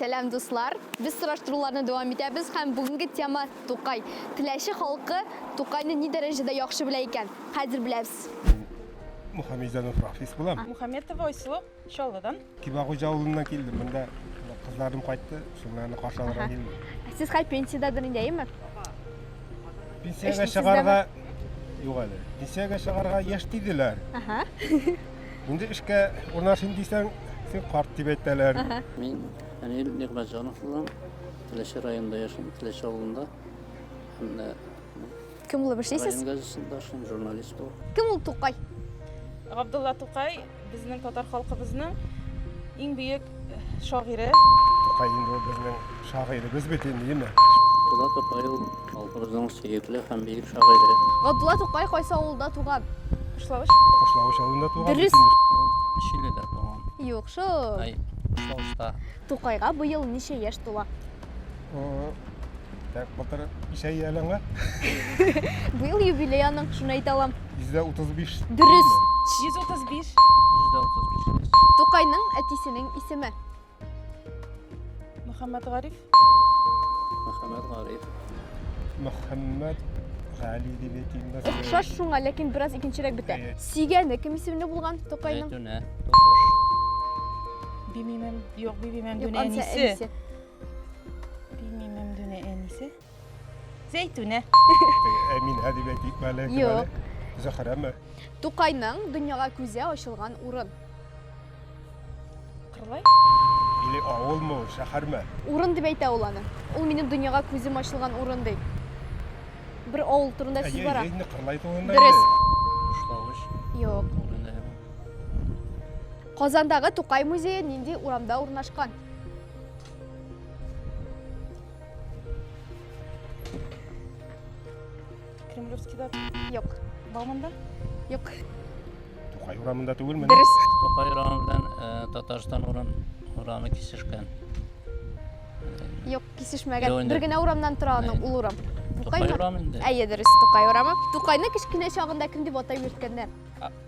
Сәлам, дуслар! Без сораштыруларны дәвам итәбез һәм бүгенге тема Тукай. Теләче халкы Тукайны ни дәрәҗәдә яхшы белә икән? Хәзер беләбез. Мухаммедзянов Рафис булам. Мухаммедова Айсылу, Чаллыдан. Кибагуҗа авылыннан килдем. Монда кызларым кайтты, шуларны каршы алырга килдем. Сез хәл пенсиядәдер инде, әйеме? Пенсиягә чыгарга юк әле. Пенсиягә чыгарга яшь диделәр. Инде эшкә урнашыйм дисәң, син карт дип әйтәләр. Мин Фәнил Нигъмәтҗанов булам. Теләче районында яшим, Теләче авылында. Һәм дә Кем булып эшлисез? район газетында эшлим, журналист булып. Кем ул Тукай? Габдулла Тукай безнең татар халкыбызның иң бөек шагыйре. Тукай инде ул безнең шагыйребез бит инде, яме. Габдулла Тукай ул халкыбызның сөекле һәм бөек шагыйре. Габдулла Тукай кайсы авылда туган? Кышлавыч. Кышлавыч авылында туган. Дөрес. Ул Чиледә туган. Юк, шул. Ай, Кышлавычта. Тукайга быел ничә яшь тула? Так, былтыр исә ялыңа. Быел юбилей аның, шуны әйтә алам. 135. Дөрес. 135. 135. Тукайның әтисенең исеме. Мөхәммәд Гариф. Мөхәммәд Гариф. Мөхәммәд Гали дип әйтимме? Охшаш шуңа, ләкин бераз икенчерәк бетә. Сигәне кем исемле булган Тукайның? Бимимем, юк, бимимем, дүнә әнисе. Белмим, Мәмдүнә әнисе. Зәйтүнә. Ә мин әдип әйтик мәле. Юк. Зөхрәме? Тукайның дөньяга күзе ачылган урын. Кырлай? Или авылмы, шәһәрме? Урын дип әйтә ул аны. Ул минем дөньяга күзем ачылган урын ди. Бер авыл турында сүз бара. Әйе, Кырлай турында. Дөрес. Ушлавыч. Юк. Казандагы Тукай музее нинди урамда урнашкан? Кремлевскийда юк. Бауманда юк. Тукай урамында түгелме? Дөрес. Тукай урамы белән э, Татарстан урам урамы кисешкән. Юк, кисешмәгән. Юк, инде. Бер генә урамнан тора аны Әйе. ул урам. Тукай Тукаймы? урамы инде. Әйе, дөрес, Тукай урамы. Тукайны кечкенә чагында кем дип атап йөрткәннәр?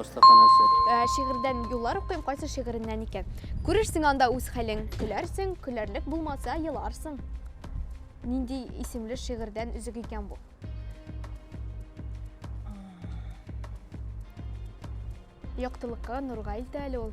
остаханәсе. Ә, шигырьдән юллар укыйм, кайсы шигыреннән икән. Күрерсең анда үз хәлең, көләрсең, көләрлек булмаса, еларсың. Нинди исемле шигырьдән өзек икән бу? Яктылыкка нурга илтә әле ул.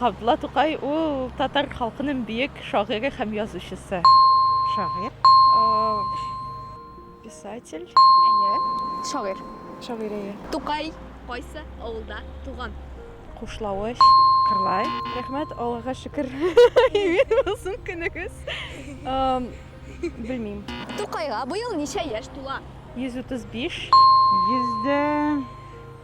Габдулла Тукай ул татар халкының бөек шагыйре һәм язучысы. Шагыйр. Писатель. Әйе. Шагыйр. Шагыйр, әйе. Тукай кайсы авылда туган? Кушлавыч. Кырлай. Рәхмәт, Аллага шөкер. Имин булсын көнегез. Белмим. Тукайга быел ничә яшь тула? 135. Йөздә.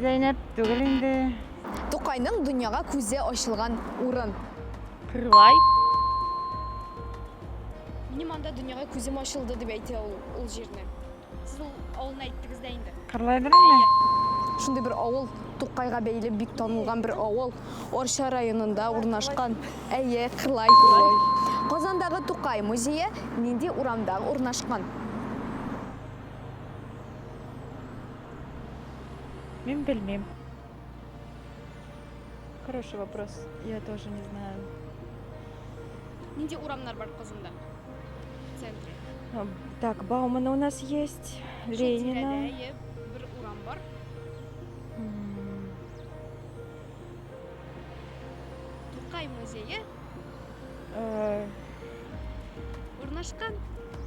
Зәйнәп түгел инде. Тукайның дөньяга күзе ачылган урын. Кырлай. Минем анда дөньяга күзем ачылды дип әйтә ул, ул җирне. Сез ул авылны әйттегез дә инде. Кырлайдыр инде. Шундый бер авыл, Тукайга бәйле бик танылган бер авыл, Арча районында урнашкан. Әйе, Кырлай. Казандагы Тукай музее нинди урамда урнашкан? Мин белмим. Хороший вопрос. Я тоже не знаю. Нинди урамнар бар Козында? В центре. А, так, Баумана у нас есть, Ленина. Бер урам бар. Тукай музее Э, Урнашкан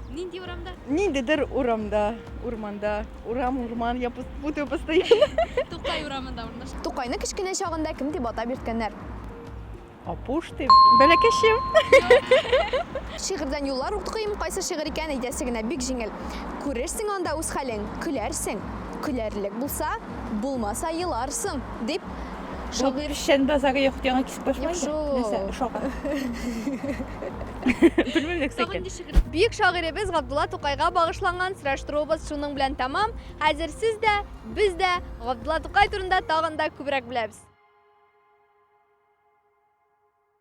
нинди урамда? Ниндидер урамда, урманда, урам, урман, я пут- путаю постоянно. Тукай урамында урнашкан. Тукайны кечкенә чагында кем дип атап йөрткәннәр? Апуш дип. Бәләкәчем. Шигырьдән юллар укыйм, кайсы шигырь икән әйтәсе генә бик җиңел. Күрерсең анда үз хәлең, көләрсең. Көләрлек булса, булмаса еларсың, дип Шагыйрь Шәнбазары йорт яңа Юк шул. Нәрсә, шагыйрь. Белмим нәрсә икән. Бөек шагыйребез Габдулла Тукайга багышланган сораштыруыбыз шуның белән тәмам. Хәзер сез дә, без дә Габдулла Тукай турында тагын да күбрәк беләбез.